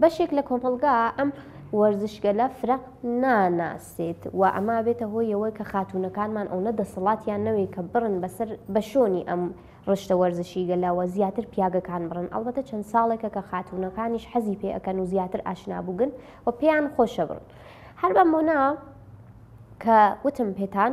بەشێک لە کۆمەڵگا ئەم وەرزشگەلە فرەق ناناسێت و ئەما بێتە هۆی ئەوە کە خاتونەکانمان ئەوە دەسەڵاتیان نەوەی کە بڕن بەسەر بە شۆنی ئەم ڕشتە وەرزشی گەلاوە زیاتر پیاگەکان بڕن ئەڵبەتە چەند ساڵێکە کە خاتونەکانیش حەزی پێ ئەەکەن و زیاتر ئاشنابووگن و پێیان خۆشە بڕن هەر بەم بۆنا کە وتم پێتان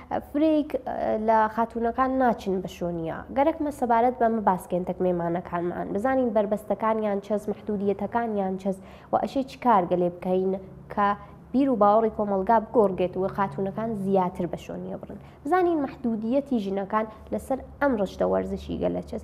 فرەیک لە خاتوونەکان ناچن بە شۆنیا. گەرەکمە سەبارەت بە مەباسکێنتەک مێمانەکانمان بزانین بەربەستەکانیان چەس مەحدوودیەتەکانیان چەس و ئەشێ چ کارگە لێ بکەین کە بیر و باوەڕی کۆمەڵگا بگۆڕگێت و خاتوونەکان زیاتر بە شۆنیە بڕن. بزانین مەحدوودیەتی ژنەکان لەسەر ئەم ڕشتە وەرزشی گەلە چەس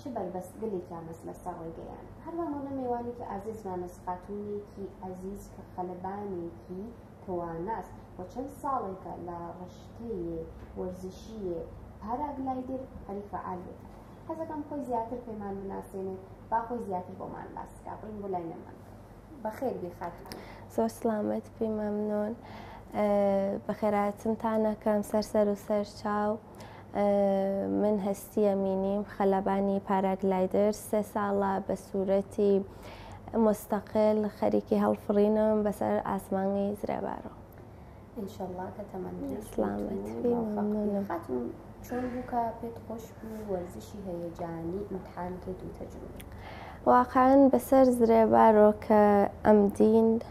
چ بەربەست گەلێک یامەز لەسەر ڕێگەیان هەروە مۆنە مێوانێکی ئازیز مامەس خاتونێکی ئازیز کە خەلبانێکی تواناست و چەند ساڵێکە لە ڕشتەیە وەرزشیە پاراگلایدر هەری فعالێت حەزەکەم خۆی زیاتر پێمان بناسێنێت با خۆی زیاتر بۆمان باس بکە بڕین بۆ لای نەمان بەخێر بخات زۆر سلامت پێی مەمنۆن بەخێراتنتانەکەم سەر سەر و سەر چاو من هەستی ئەمینیم خەلبانی پاراگلایدر سێ ساڵە بە سورەتی مستەقل خەریکی هەڵفڕینم بەسەر ئاسمانی زرێبارۆ. انشاللە کە تەمەن درێژ بیت خاتون چۆن بووکە پێت خۆش بوو وەرزشی هەیەجانی ئیمتحان کرد و تەجروبە واقعەن بەسەر زرێبارۆ کە ئەم دین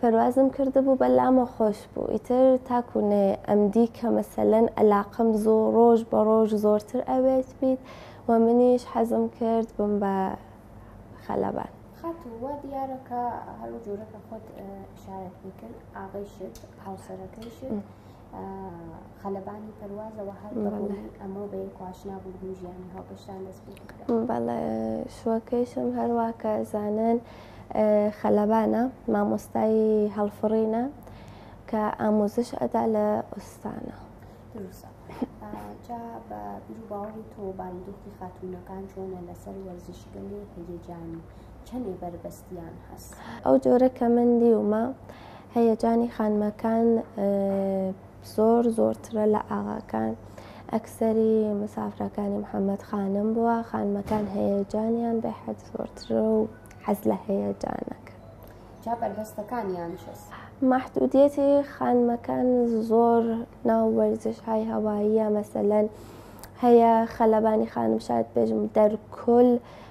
پەروازم کردبوو بەلامە خۆش بوو ئیتر تاکو نەیە ئەمدی کە مەسەلەن ئەلاقەم زۆ ڕۆژ بە ڕۆژ زۆرتر ئەوێت بیت و منیش حەزم کرد بم بە خەلەبان. خاتوو وا دیارە کە هەرو جۆرە کە خۆت ئیشارەت پێ کرد ئاغەی شت هاوسەرەکەی شت خەلبانی پەروازەوە هەر بەهۆی ئەمەو بە یەک ئاشنا بوون بوو ژیانی هاوبەشتان دەست پێ کرد بەڵێ شوەکەیشم هەروە کە زانن خەلبانە مامۆستای هەڵفڕینە کە ئاموزش ئەدا لە ئوستانە دروستە جا بە بیر و باوەڕی تۆ بارودۆخی خاتوونەکان چۆنە لەسەر وەرزشی گەلێ هەیەجانی چەندێ بەربەستیان هەست ئەو جۆرە کە من دیومە هەیەجانی خانمەکان زۆر زۆرترە لە ئاغاکان ئەکسەری مسافرەکانی محەممەد خانم بووە خانمەکان هەیەجانیان بە حەد زۆرترە و حەز لە هەیەجانەکە جا بەرهەستەکانیان شست محدودیەتی خانمەکان زۆر ناو وەرزش های هەواییە مەسەلەن هەیە خەلەبانی خانم شاد بێژم دەرکل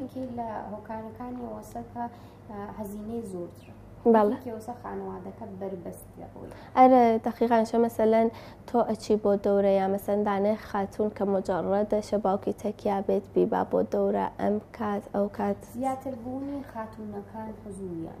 یەکی لە هۆکارەکانی وەسەکە هەزینەی زۆرتر خانوادەکە بەربەست ئەرە دقیقان شە مەسەلەن تۆ ئەچی بۆ دەورە یا مەسەندانێ خاتون کە مجارڕە دەشە باوکی تەکیا بێت بیبا بۆ دەورە ئەم کات ئەو کات زیاتر بوونی خاتونەکان حزوریان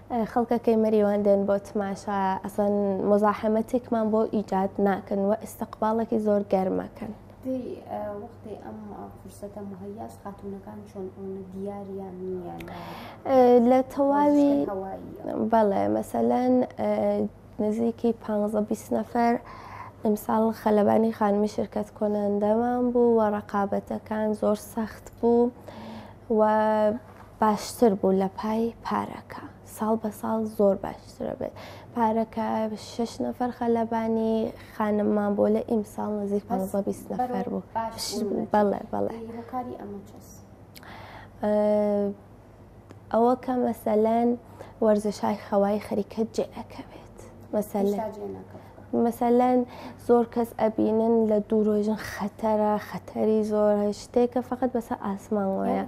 خەڵکەکەی مەریوان دێن بۆ تماشا ئەسڵەن مزاحەمەتێکمان بۆ ئیجاد ناکەن و ئیسەقباڵێکی زۆر گەرمەکەن. لە تەواوی بەڵێ مەسەلەن نزیکی پ نەفەر ئەمساڵ خەلبانی خانمی شرکەت کۆناندەمان بوو وە ڕقابەتەکان زۆر سەخت بوو و باشتر بوو لە پای پارەکە ساڵ بە ساڵ زۆر باشترە بێت پارەکە شش نەفەر خەلەبانی خانممان بۆ لە ئیم ساڵ نزیک پ نەفەر بوو بەڵێ بەڵێ ئەوە کە مەسەلەن وەرزشای خەوای خەریکە جێ ئەەکەوێت مەسەل مەسەلەن زۆر کەس ئەبینن لە دوورۆژن خەتەرە خەتەری زۆر شتێکە فقط بەسە ئاسمان وایە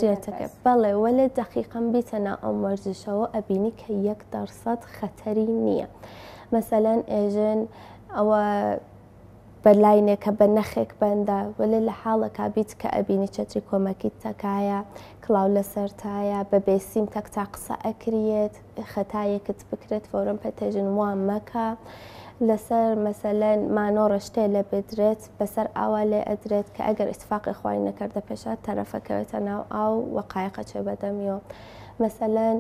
جێتەکە بەڵێ وە لە دەقیقم بیتە نا ئەم وەرزشەوە ئەبینی کە یەک دەرسەد خەتەری نییە مەسەلەن ئێژن ئەوە بە لاینێکە بە نەخێک بەندە وەلێ لە حاڵەکا بیت کە ئەبینی چەتری کۆمەکیت تەکایە کڵاو لە سەرتایە بە بێسیم تەک تا قسە ئەکریێت خەتایەکت بکرێت فەورەن پەتەژن وا مەکە لەسەر مەسەلەن مانۆڕە شتێ لێ بدرێت بەسەر ئاوا لێ ئەدرێت کە ئەگەر ئیتفاقی خوای نەکردە پێشا تەرەفەکەوێتە ناو ئاو و قایقە چێ بەدەمیەوە مەسەلەن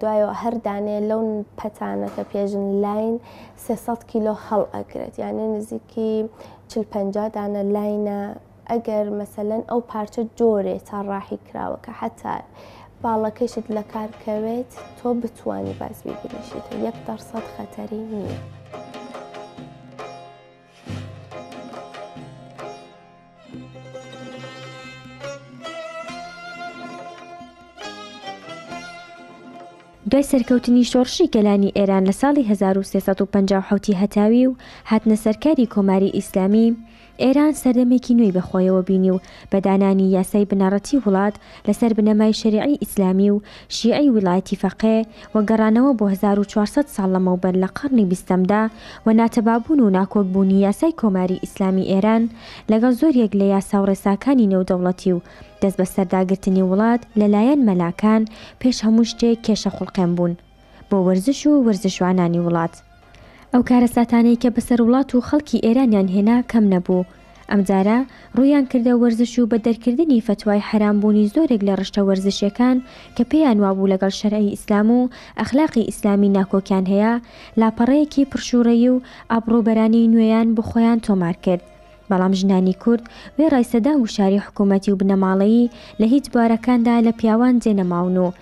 دوایەوە هەر دانێ لەو پەتانە کە پێژن لاین سێ سەد کیلۆ هەڵ ئەگرێت یانێ نزیکی چل پەنجا دانە لاینە ئەگەر مەسەلەن ئەو پارچە جۆرێ تا ڕاحی کراوە کە حتا باڵەکەشت لە کار کەوێت تۆ بتانی باز بیگریشیت یەک دەرسەد خەتەری نییە. دوای سەرکەوتنی شۆڕشی گەلانی ئێران لە ساڵی 1357 هەتاوی و هاتنە سەرکاری کۆماری ئیسلامی، ئێران سەردەمێکی نوێی بەخۆیەوە بینی و بەدانانی یاسای بنەڕەتی وڵات لەسەر بنەمای شەریعی ئیسلامی و شیعی ویلایەتی فەقێ و گەڕانەوە بۆ هەزار و چوار سەد ساڵ لەمەوبەر لە قەڕنی بیستەمدا و ناتەبابوون و ناکۆک بوونی یاسای کۆماری ئیسلامی ئێران لەگەڵ زۆریەک لە یاسا و ڕێساکانی نێودەوڵەتی و دەستبەسەرداگرتنی وڵات لەلایەن مەلاکان پێش هەموو شتێک کێشە خوڵقێن بوون بۆ وەرزش و وەرزشوانانی وڵات. ئەو کارەساتانەی کە بەسەر وڵات و خەڵکی ئێرانیان هێنا کەم نەبوو. ئەمجارە ڕوویان کردە وەرزش و بە دەرکردنی فەتوای حەرام بوونی زۆرێک لە ڕشتە وەرزشیەکان کە پێیان وابوو لەگەڵ شەرعی ئیسلام و ئەخلاقی ئیسلامی ناکۆکیان هەیە، لاپەڕەیەکی پڕشووڕەیی و ئابڕووبەرانەی نوێیان بۆ خۆیان تۆمار کرد. بەڵام ژنانی کورد وێڕای سەدان گوشاری حکوومەتی و بنەماڵەیی لە هیچ بوارەکاندا لە پیاوان جێ نەماون و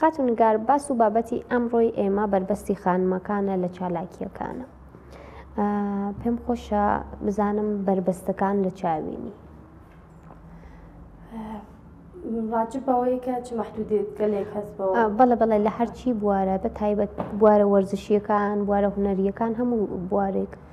خاتو نگار باس و بابەتی ئەمڕۆی ئێمە بەربەستی خانمەکانە لە چالاکیەکانە پێم خۆشە بزانم بەربەستەکان لە چاوینی بەڵە بەڵێ لە هەرچی بوارە بە تایبەت بوارە وەرزشیەکان بوارە هوەریەکان هەموو بوارێک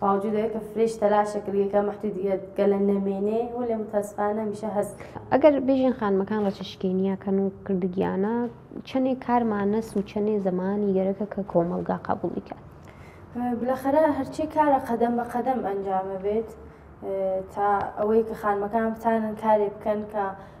باوجود ئەوەی کە فرێش تەلاشە کرد یەکە مەحدودیەت گەلە نەمێنێ هو لە متاسفانە میشە هەز ئەگەر بێژین خانمەکان ڕەچە شکێنیە کەن و کردگیانە چەنێ کارمانەس و چەنێ زەمانی گەرەکە کە کۆمەلگا قابولی کات بلەخەرە هەرچی کارە قەدەم بە قەدەم ئەنجامە بێت تا ئەوەی کە خانمەکان بتانن کارێ بکەن کە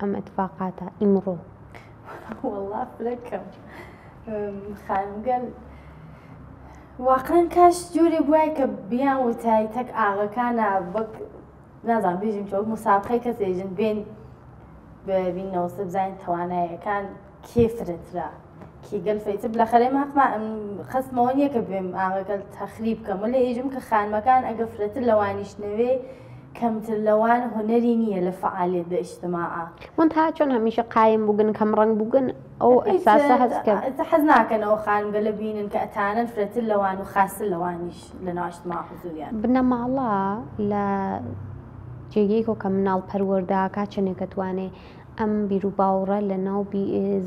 ئەم ئەتفاقاتە ئیمڕۆ. وەڵا فرەکەم خانم گەل واقعەن کاش جۆرێ بوای کە بیان وتای تەک ئاغەکانە وەک نازان بێژین چۆک مسابقەی کەسێژن بێن ببینەوە سەبزین توانایەکان کێ فرەترە کی گەل فەیتر بلەخەرێ ماقما خەسمەوە نییە کە بێم ئاغەکەل تەخریب کەم و لە ئێژم کە خانمەکان ئەگە فرەتر لەوانیش نەوێ کەمتر لەوان هونەری نییە لە فعالێت بە ئیشتماعە من تا چۆن هەمیشە قایم بووگن کەم ڕنگ بووگن ئەو ئەساسە هەست کرد حەز ناکەنەوە خانگە لە بینن کە ئەتانن فرەتر لەوان و خاستر لەوانیش لە ناشتما حزوریان بنەماڵە لە جێگەیکۆ کە مناڵ پەروەردەکە چنێکە توانێ ئەم بیروباوڕە لە ناو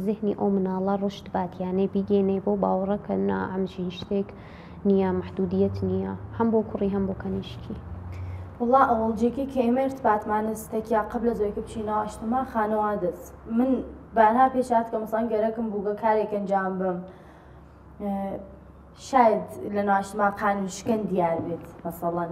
زهنی ئەو مناڵە ڕشت بات یانێ بیگەینێ بۆ باوڕە کە نا ئەمژین شتێک نییە محدودیت نییە هەم بۆ کوڕی هەم بۆ کەنیشکی. وەڵا ئەوەڵجیکی کە ئێمە ارتبات مانە ستەکیا قبلە زۆی کە بچینە ئاشتما خانەوا دەس من بارها پێشات کە مەسەڵەن گەرەکم بووگە کارێک ئەنجام بم شاید لە ناشتما قانون شکن دیار بێت مەسەڵەن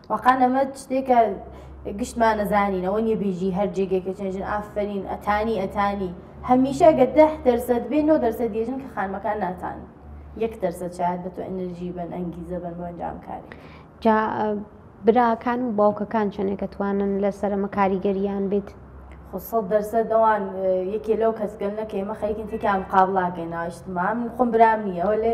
واقعەن ئەمە شتێکە گشتمان نەزانین ئەوە نیە بێژی هەر جێگێکە چێنجن ئافرین ئەتانی ئەتانی هەمیشە گە ده دەرسەت بێ نۆ دەرسە دێژن کە خانمەکان ناتان یەک دەرسە چات بە تۆ ئەنرژی بن ئەنگیزە بن بۆ ئەنجام کاری جا براکان و باوکەکان چەندێکە توانن لە سەرمە کاریگەریان بێت خۆسەڵ دەرسە دەوان یەکێ لەو کەسگەل نەکە ئمە خەریکن تێکیان قابلاکەین ناشتمان خۆم برام نییەوە لێ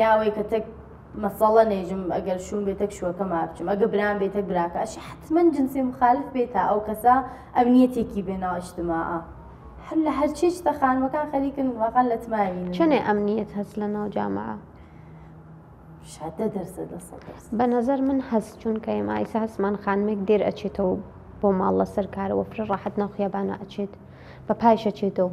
یا ئەوەی کە تەک مەسەڵە نێژم ئەگەر شوم بێ تەک شوەکە ما بچم ئەگە برام بێ تەک براکە ئەش حتمما جنسێ مخالف بێت تا ئەو کەسە ئەم نیەتێکی بێناو ئیشتما هەر لە هەرچی شتە خانمەکان خەریکن واقعا لە تماوی چنێ ئەم نیەت هەست لە ناو جامعە بە نظر من هەست چونکە ئێمە ئایسا هەستمان خانمێک دێر ئەچێتەوە بۆ ماڵ لەسەر کارەوە فرە ڕاحەت ناوخیابانە ئەچێت بە پایشە چێتەوە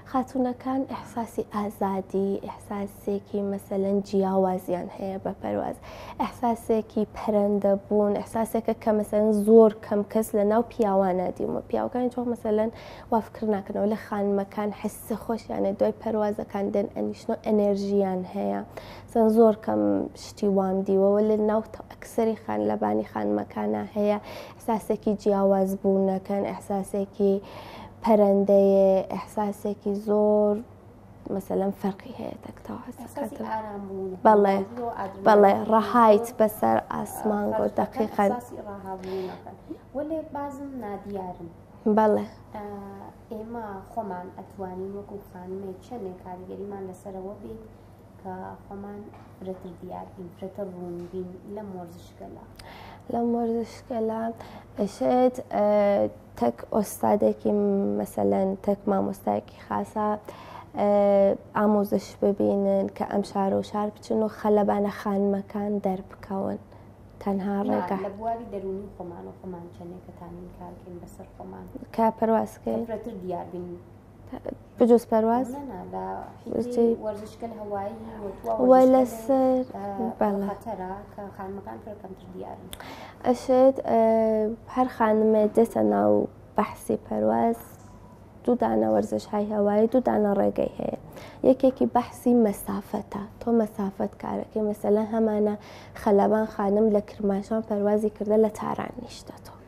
خاتوونەکان ئیحساسی ئازادی، ئیحساسێکی مەسەلەن جیاوازیان هەیە بە پەرواز، ئیحساسێکی پەرەندەبوون، ئیحساسێکە کە مەسەلەن زۆر کەم کەس لە ناو پیاوانە دیومە پیاوەکان هیچ وەخت مەسەلەن وا فکر ناکەنەوە لە خانمەکان حەسسە خۆشیانە دوای پەروازەکان دێن ئەنیشن و ئەنێرژییان هەیە سەن زۆر کەم شتی وام دیوەوە لە ناو ئەکسەری خان لەبانی خانمەکانە هەیە ئیحساسێکی جیاواز بوونەکەن ئیحساسێکی پەرەندەیە ئیحساسێکی زۆر مەسەلەم فەرقی هەیە بەڵێ بەڵێ ڕەهایت بەسەر ئاسمان گۆ دەقیقە بازم نادیارم بەڵێ ئێمە خۆمان ئەتوانین وەکو خانمێک چەندێک کاریگەریمان لەسەرەوە بێت کە خۆمان فرەتر دیار بین فرەتر ڕوون بین لەم وەرزشگەلە لەم وەرزشگەلە ئەشێت تەک ئۆستادێکی مەسەلەن تەک مامۆستایەکی خاصە ئامۆزش ببینن کە ئەم شار و شار بچن و خەلەبانە خانمەکان دەربکەون تەنها ڕێگا لە بواری دەرونی خۆمان و خۆمان چەندێکەتانین کارکەین بەسەر خۆمان کە پەرواسکەین فرەتر دیار بین بجز پرواز نه نه لا حیزی ورزش کل هوایی و تو ولا سر بله خطره که خانمەکان پێ کەمتر دیارن ئەشێت هەر خانمێ دێتە ناو بەحسی پەرواز دوو دانە وەرزش های هەوایی دوو دانە ڕێگەی هەیە یەکێکی بەحسی مەسافەتە تۆ مەسافەت کارەکەی مەسەلەن هەمانە خەلبان خانم لە کرماشان پەروازی کردە لە تاران نیشتە تۆ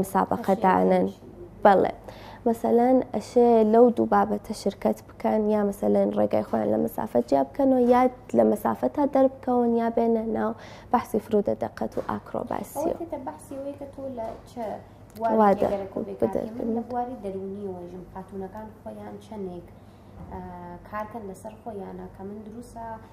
مسابقە دانن بەڵێ مەسەلەن ئەشێ لەو دوو بابەتە شرکت بکەن یا مەسەلەن ڕێگای خۆیان لە مسافەت جیا بکەنەوە یاد لە مسافە تا دەربکەون یا بێنە ناو بەحسی فرودە دەقەت و ئاکرۆباسی وادە بواری دەرونی و ژم خاتونەکان خۆیان چەندێک کارکەن لەسەر خۆیانە کە من دروسە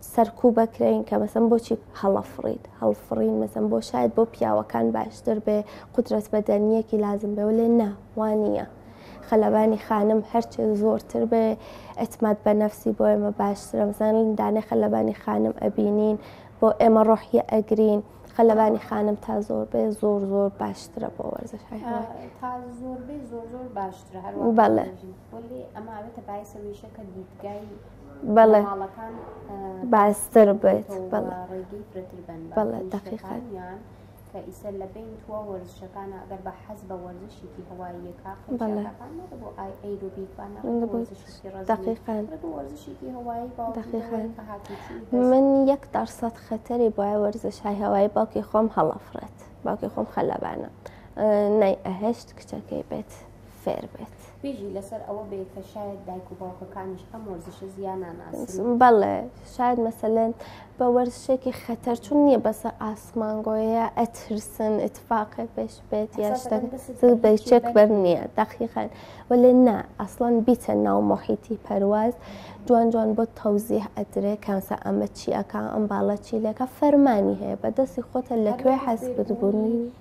سەرکوو بەکرێین کە مەسم بۆچی هەڵەفڕیت هەڵفڕین مەسم بۆ شاید بۆ پیاوەکان باشتر بێ قدرەت بەدەنیەکی لازم بێ لێ ناوانە خەلەبانی خانم هەرچێ زۆرتر بێ ئەتماد بە نەفسی بۆ ئێمە باشترم زانین دانێ خەلەبانی خانم ئەبینین بۆ ئێمە ڕۆحیە ئەگرین خەلەبانی خانم تا زۆر بێ زۆر زۆر باشترە بۆ وەرزش هەیە تا زۆر بێ زۆر زۆر باشترە هەر بەڵێ بەڵێ باستر بێت بەڵێ دەقیقان کە ئیسە لە بین تووە وەرزشەکانە ئەگەر بە حەز بە وەرزشێکی هەواییەکە من یەک دەرسەد خەتەری بۆە وەرزشای هەوای باوکی خۆم هەڵەفرێت باوکی خۆم خەلەبانە نای ئەهشت کچەکەی بێت. فێر بێت. بژی لەسەر ئەوە بێ کە شاید دایک و باوکەکانیش ئەم وەرزشە زیان ناناسن. بەڵێ شاید مەسەلەن بە وەرزشێکی خەتەر چون نییە بەسە ئاسمانگۆیە ئەترسن اتفاقێک پێش بێت یا شتە بەچێک بەر نییە دەقیقەن وەلێ نا ئەسڵان بیتە ناو مۆحیتی پەرواز جوان جوان بۆ تەوزیه ئەدرێ کانسە ئەمە چیەکە ئەم باڵە چیلەکە فەرمانی هەیە بەدەستی خۆتە لەکوێ حەز بتبوونی.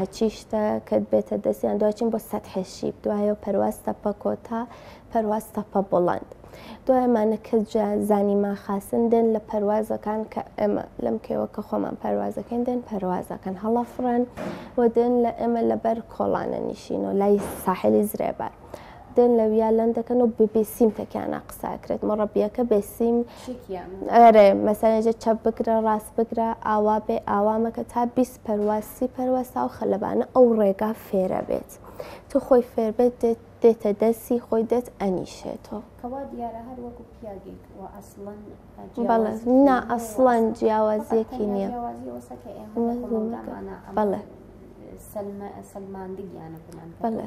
هەچی شتە کەت بێتە دەستیان دواچین بۆ سەد حەشیب دوایە پەرواز تەپە کۆتا پەرواز تەپە بڵند دوایمانە کە زانی ما خاستن دێن لە پەروازەکان کە ئێمە لەم کێوە کە خۆمان پەروازەکەین دێن پەروازەکەن هەڵە فڕەن و دێن لە ئێمە لەبەر کۆڵانە نیشین و لای ساحلی زرێبار. دێن لە ویا لەن دەکەن و ببیسیم تەکیانە قساکرێت مەڕەبیەکە بێسیم ئەرێ مەسەێژە چەپ بگرە ڕاست بگرە ئاوا بێ ئاوامەکە تا بیست پەروا سی پەروا ساو خەلەبانە ئەو ڕێگا فێرە بێت تۆ خۆی فێر بێت دێتە دەستی خۆی دەت ئەنیشێتەوە کەوا دیارە هەر وەکو پیاگێک و ئەسڵەن بەڵێ نا ئەسڵەن جیاوازیەکی نییە بەڵێ سەلماندگیانە بەڵێ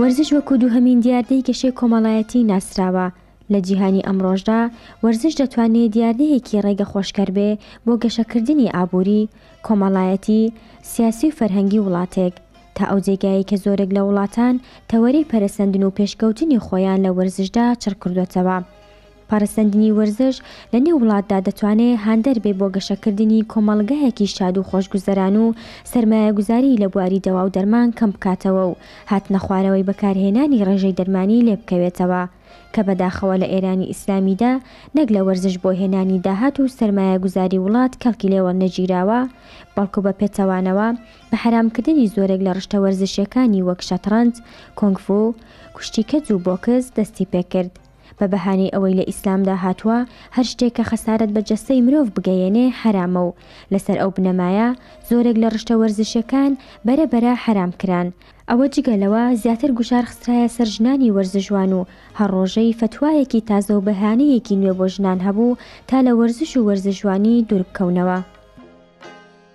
وەرزش وەکو دووهەمین دیاردەی گەشەی کۆمەڵایەتی ناسراوە، لە جیهانی ئەمڕۆشدا وەرزش دەتوانێت دیاردەیەکی ڕێگە خۆشکەر بێ بۆ گەشەکردنی ئابووری، کۆمەڵایەتی، سیاسی و فەرهەنگی وڵاتێک، تا ئەو جێگایەی کە زۆرێک لە وڵاتان تەوەرەی پەرەسەندن و پێشکەوتنی خۆیان لە وەرزشدا چڕکردۆتەوە. پەڕسەندنی وەرزش لە نێو وڵاتدا دەتوانێ هاندەر بێ بۆ گەشەکردنی کۆمەڵگایەکی شاد و خۆشگوزەران و سەرمایەگوزاریی لە بواری دەوا و دەرمان کەم بکاتەوە و هاتنەخوارەوەی بەکارهێنانی ڕێژەی دەرمانی لێ بکەوێتەوە کە بەداخەوە لە ئێرانی ئیسلامیدا نەک لە وەرزش بۆ هێنانی داهات و سەرمایەگوزاری وڵات کەڵکی لێ وەرنەگیراوە بەڵکو بە پێچەوانەوە بە حەرامکردنی زۆرێک لە ڕشتە وەرزشییەکانی وەک شەتڕەنج، کۆنگفو، کوشتی کەج و بۆکس دەستی پێ کرد. بە بەهانەی ئەوەی لە ئیسلامدا هاتووە هەر شتێک کە خەسارەت بە جەستەی مرۆڤ بگەیەنێ حەرامە و لەسەر ئەو بنەمایە زۆرێک لە ڕشتە وەرزشیەکان بەرە بەرە حەرام کران ئەوە جگە لەوە زیاتر گوشار خسترایە سەر ژنانی وەرزشوان و هەر ڕۆژەی فەتوایەکی تازە و بەهانەیەکی نوێ بۆ ژنان هەبوو تا لە وەرزش و وەرزشوانی دووربکەونەوە.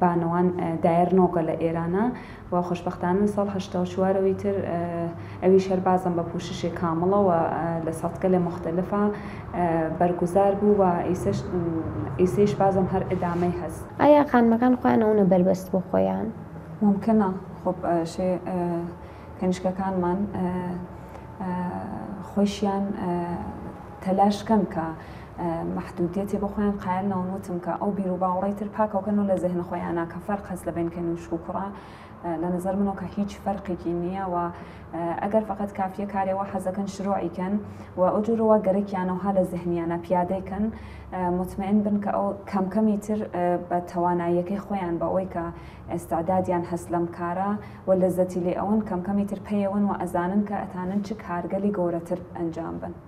بانوان دایەر نۆگە لە ئێرانە و خۆشبەختانە لە ساڵ هەشتا و چوار ەوەی تر ئەویش هەر بازم بە پووششێ کامڵە و لە ساتگەلێ موختەلفا بەرگوزار بوو و ئیسەیش بازم هەر ئدامەی هەس. ئایا خانمەکان خۆیان ئەونە بەربەست بۆ خۆیان؟ مومکەنە خۆ شێ کەنیشکەکانمان خۆیشیان تەلاش کەن کە مەحدودیەتێ بۆ خۆیان قایل نەون وتم کە ئەو بیرو باوەڕەی تر پاکەو کەن و لە زهن خۆیانا کە فەرق هەس لە بەین کەنووشک و کوڕە لە نەزەر منەوە کە هیچ فەرقێکی نییە و ئەگەر فقط کافیە کارێوە حەزەکەن شرۆعی کەن و ئەو جورەوە گەرەکیانەوها لە زهنیانە پیادەی کەن مطمئن بن کە ئەو کەم کەمی تر بە تواناییەکەی خۆیان بە ئەوی کە ئێستادادیان هەست لەم کارە و لەزەتی لێ ئەون کەم کەمی تر پەیەون و ئەزانن کە ئەتانن چ کارگەلی گەورەتر ئەنجام بن.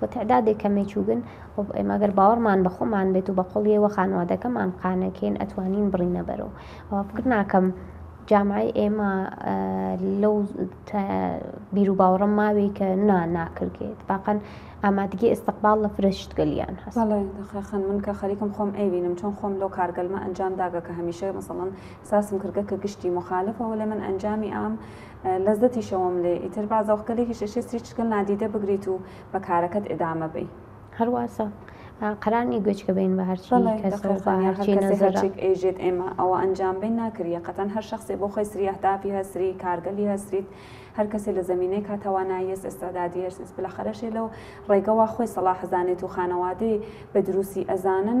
و تەعدادێک کە مێچووگن، خۆ ئێمە گەر باوەڕمان بە خۆمان بێت و بە قوڵیی وە خانوادەکەمان قانع کەین ئەتوانین بڕینە بەرەو ئەوە فکر ناکەم جامعەی ئێمە لەو بیرو باوەڕەم ماوی کە نا ناکرگێت باقەن ئامادگی ئستقبال لە فرە شتگەلیان هەست بەڵێ دەخێ خان من کە خەریکم خۆم ئەیبینم چۆن خۆم لەو کارگەلمە ئەنجام داگە کە هەمیشە مەسەڵەن ساسم کردگە کە گشتی مخالفە وەلێ من ئەنجامی ئام لەزەتی شەوم لێ ئیتر با زەوقگەلێکیش ئەشێ سری چرکەل نادیدە بگریت و بە کارەکەت ئیدامە بەی. هەر واسە قەرار نی گوێچکە بین بە هەرچی بەڵێ کەس و بە دەقیقەن هەرچی هەرکەسێ نەزەرە هەرچیک ئێژێت ئێمە ئەوە ئەنجام بەین ناکری یەقەتەن هەر شەخسێ بۆ خۆی سری ئەهدافی هەس سری کارگەلی هەس سریت هەر کەسێ لە زەمینەیک ها تەوانایی هەس ئێستعدادی هەس ئیس بلەخەرەشێ لەو ڕێگە وا خۆی سەڵاح ئەزانێت و خانەوادەی بە دروسی ئەزانن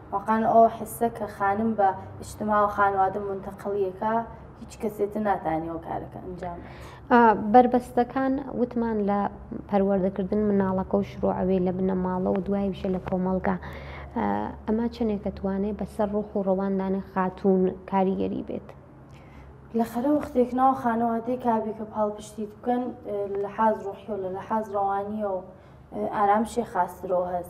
واقان ئۆ حسە کە خانم بە ئیجتماع و خانوادە مونتەقڵی یەکا هیچ کەسێتە ناتانی ئۆ کارەکە ئەنجام بەت. ئا بەربەستەکان وتمان لە پەروەردە کردن مناڵەکە و شروع ئەوێ لە بنەماڵە و دوایوشە لە کۆمەڵگا ئا ئەمە چەنێک ئەتوانێ بە سەر ڕوح و ڕەوان دانێ خاتوون کاریگەری بێت؟ لە خەرە وەختێک ناو خانوادەیک ئابی کە پاڵپشتیت بکەن لە لەحاز ڕوحی و لە لەحاز ڕەوانیەو ئارامشێ خاسترەوە هەس.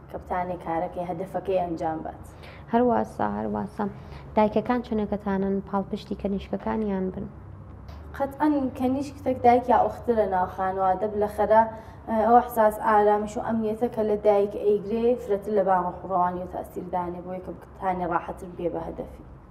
کە بتانێ کارەکەی هەدەفەکەی ئەنجام بات. هەر واسە هەر واسە. دایکەکان چنەکەتانن پاڵپشتی کەنیشکەکانیان بن. قەتعەن کەنیشک تەک دایک یا ئوخت لە ناو خانوا دە بلە خەرە ئەو ئەحساس ئارامش و ئەمنیەتە کە لە دایک ئەیگرێ فرەتر لە بان ڕۆح و ڕەوانی و تاسیر دانێ بۆیە کە بتانێ ڕاحەتر بگەی بە هەدەفی.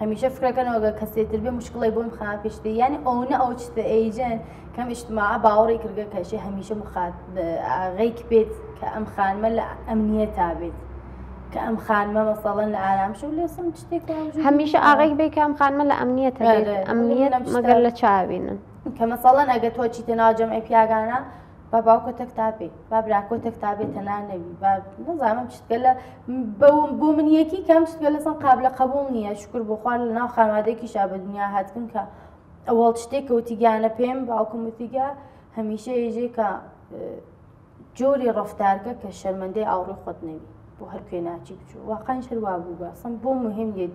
هەمیشە فکرەکەنەوەگە کەسێ تربێ مشکڵی بۆم خا پێشتێ یانی ئەوە ئەو چتە ئەیجن کەم ئیشتما باوەڕی کردگە کەشێ هەمیشە مخات ئاغیک بێت کە ئەم خانمە لە ئەمنیە تا بێت. کە ئەم خانمە مەسەڵەن لە ئارام شو لێ سم شتێک هەمیشە ئاغێک بێ کەم خانمە لە ئەمنیە تا ئەمنیە مەگەر لە چاوینن کە مەسەڵەن ئەگە تۆ چیتە ناوجەمعی پیاگانە با باوکە تەک تابێ با براکۆ تەک تابێ تەنا نەوی با نەزانم شتگە لە بۆ من یەکی کەم شتگە لەسم قاب لە قبول نییە شکر بخوار لە ناو خانوادێکی شا بە دنیا هاتبوون کە ئەوەڵ شتێک کەوتی گیانە پێم باوکمتیگە هەمیشە یژێ کە جۆری ڕفتارگە کە شەرمەندەی ئاوڕی خۆت نەوی بۆ هەر کوێ ناچی بچوو واقعی شەروا بوو بەسم بۆ مهم لێت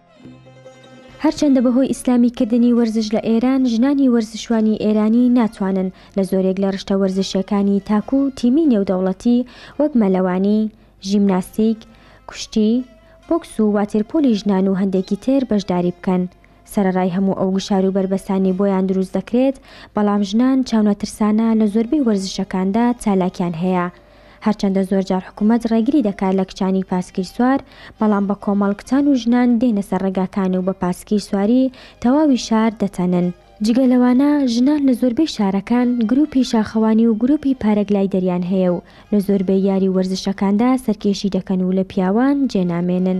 هەرچەندە بەهۆی ئیسلامی کردنی وەرزش لە ئێران ژنانی وەرزشوانی ئێرانی ناتوانن لە زۆرێک لە رشتە وەرزشیەکانی تاک و تیمی نێودەوڵەتی وەک مەلەوانی، ژیمناستیک، کوشتی، بۆکس و واتێرپۆلی ژنان و هەندێکی تر بەشداری بکەن، سەرەڕای هەموو ئەو گوشار و بەربەستانەی بۆیان دروست دەکرێت، بەڵام ژنان چاونەترسانە لە زۆربەی وەرزشەکاندا چالاکیان هەیە، هەرچەندە زۆرجار حکومەت ڕێگری دەکات لە کچانی پاسکیل سوار، بەڵام بە کۆمەڵ کچان و ژنان دێنە سەر ڕێگاکان و بە پاسکیل سواری تەواوی شار دەتەنن. جگە لەوانە ژنان لە زۆربەی شارەکان گروپی شاخەوانی و گروپی پارەگلایدەریان هەیە و لە زۆربەی یاری و وەرزشەکاندا سەرکێشی دەکەن و لە پیاوان جێ نامێنن.